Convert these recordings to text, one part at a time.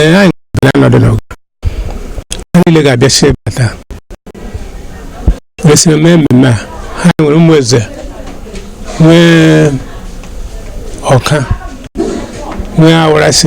ee anyị na-anọdụ n'ụga ha niile ga-abịasị bata wee soro mee mmemme a ha nwere ụmụeze nwee ọka nwee awarasị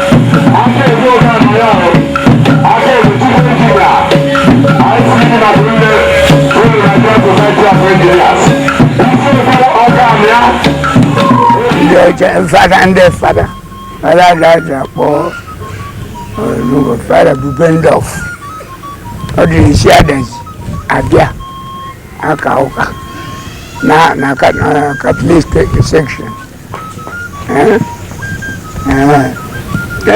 fada ndị fada fada ga-aja akpọ n'ụga fada bubendorf ọ na-esi adazi abịa aka ụka na na katọlik section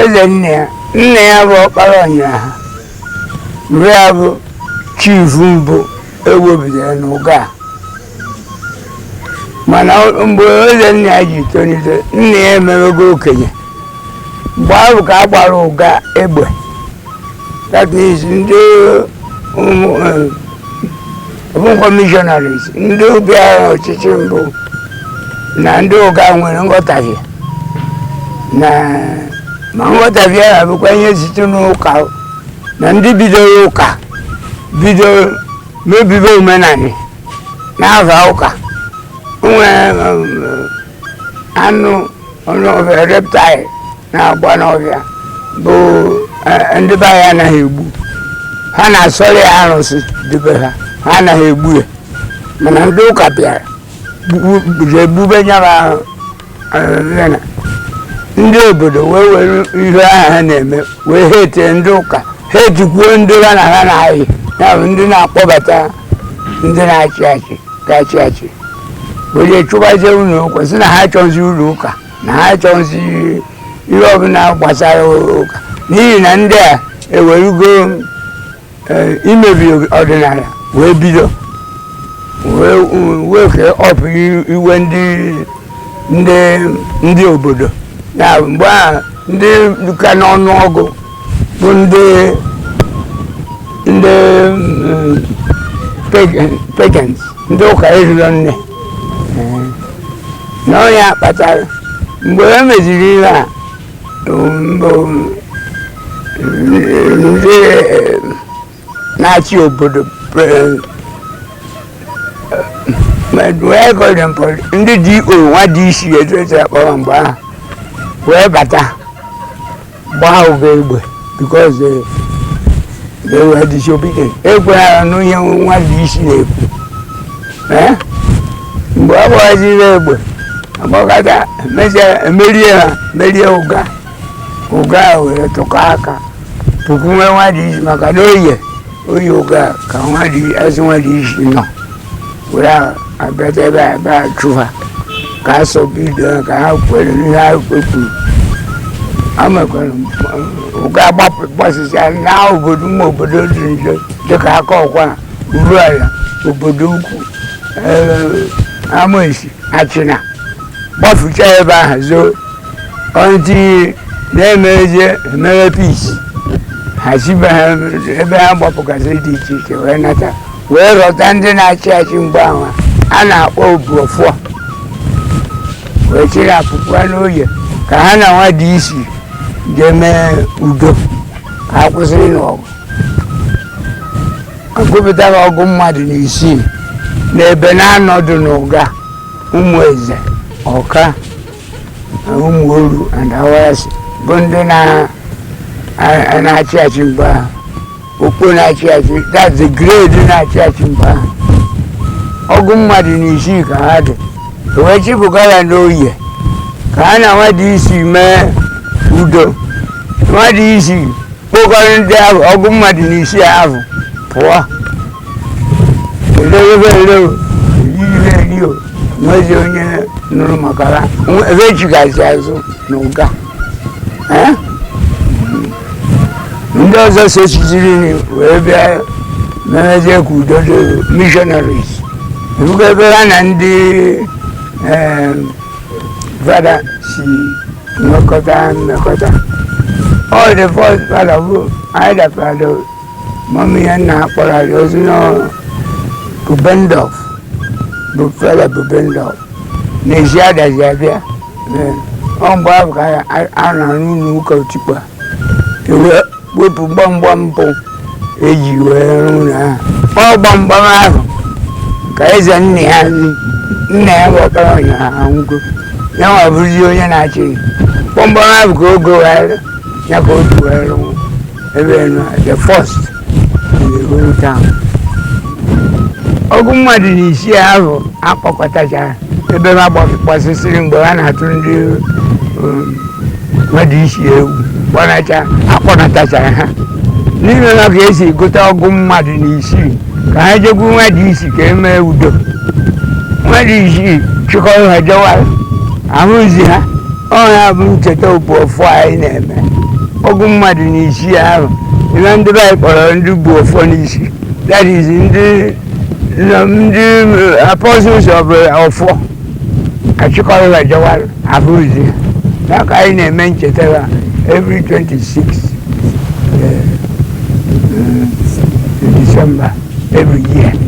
ezennaya nna ya bụ ọkpara ọnyịraha mgbe ya bụ chifu mbụ e nwebidoro n'ụga a. mana o- mgbe ezennaya ji tolite nna ya emewego okenye mgbe ahụ ka a gbara ụga egbe that means ndị ụmụ eh, ọ bụkwa missionaries ndị bịara ọchịchị mbụ na ndị ụga nwere nghọtahie mana nghọtahie ahụ bụkwa ihe site n'ụka na ndị bidoro ụka bido mebibe omenala na-aba ụka nwee anụ anụ ọhịa reptile na-agba n'ọhịa bụ eh, ndị be anyị anaghị egbu ha na-asọrọ ya arụsị debe ha ha anaghị egbu ya mana ndị ụka bịara egbube ya eh, ndị obodo wee were ihe ahụ ha na-eme wee hate ndị ụka hatekwuo ndị ha na ha na-ayị ya bụ ndị na-akpọbata ndị na-achị achị ga-achị achị were chụbazie ụlọ ụka sị na ha achọghịzi ụlọ ụka na ha achọghịzi ihe ọbụla gbasara ụka n'ihi na ndị a ewerugo e, imebi ọdịnala wee bido wee kee ọpụ iwe ndị obodo na mgbe a ndị ka n'ọnụ ọgụ bụ ndị ndị pagans ndị ụka erirọ nne na ọ ya kpatara mgbe e meziri ihe a um, um, ndị na-achị obodo ndị DO nwa DC etu esi akpọrọ mgbe ahụ wee bata gbaa ụga egbe because eh, they were disobedient ekweghara n'ihe nwa DC na-ekwu eh? mgbe ọ gbaziri egbe agbakọta merie ha merie ụga ụga wee tụkọ aka pụkwuwe nwa DC maka na oye oye ụga ka nwa dị azụ nwa DC nọ were abịata ebe a ebe a chụ ha ka a sọ bido ha ka ha kwere n'ihe ha kwekwuru amekwara ụga agbapụ gbasasịa na obodo ụmụ obodo dị nje dịka akọkwa uruala obodoukwu amesi achịna gbafucha ebe ahụ zoo until na-emeje e mee peace ha si ebe ha gbapụgasịrị dị iche iche wee nata wee rọta ndị na-achị achị mgbe ahụ a na-akpọ obuọfọ wee chịrị ha pụga n'oye ka ha na nwa DC ga-eme udo ka ha kwụsịrị n'ọgụ agụpụtara ọgụ mmadụ na isii n'ebe naanọ dị n'ụga ụmụeze ọka ụmụoru and awarasị bụ ndị na-achị achị mgbe ahụ ọgbọ na-achị achị that's the grade na-achị achị mgbe ahụ ọgụ mmadụ na isii ka ha dị wee chịpụga ha n'oye ka ha na nwa DC mee udo nwa DC kpokọrọ ndị ahụ ọgụ mmadụ na isii ahụ pụọ nwezi onye nụrụ maka ha ebe ejigazi azụ na ụga ndị ọzọ so chiziri wee bịa memezie ka udo dị missionaries ebugo ebe ha na ndị fada si nwekọta mmekọta ọ dị first fada bụ anyị dapụtara mọmi ya na-akpọrọ arị ozi na bubendorf bụ fada bubendorf na-esi adazi abịa Ee, ọ mgbe ahụ ka a- a- a na n'ụlọ ụka otikpa ewe wepụ gbamgbam mbụ eji wee rụọ ụlọ ahụ ọ gbamgbam ahụ ka eze nna ya nri nna ya gotara ụnyaahụ anwụgo ya nwa bụrụzi onye na-achị gbamgbam ahụ ka o gowere ya ka o ji wee rụọ ebe na the first in the whole town ọgụ mmadụ na isii ahụ akpọkọtachara ebe ha gbas- gbasịsịrị mgbe ha na-atụ ndị nwa DC egwu gbanacha akpọnatachara ha n'ime ha ka e si gụta ọgụ mmadụ na isii ka ha jekwu nwa DC ka e mee udo nwa DC chịkọrọ ha jewa ahụzi ha ọ ya bụ ncheta obu ọfọ anyị na-eme ọgụ mmadụ na isii ahụ na ndị be anyị kpọrọ ndị bu ọfọ n'isi that is ndị ndị apostles of ọfọ a chịkọrọ ha jewa ahụzi ha ka anyị na-eme ncheta ha every 26 December every year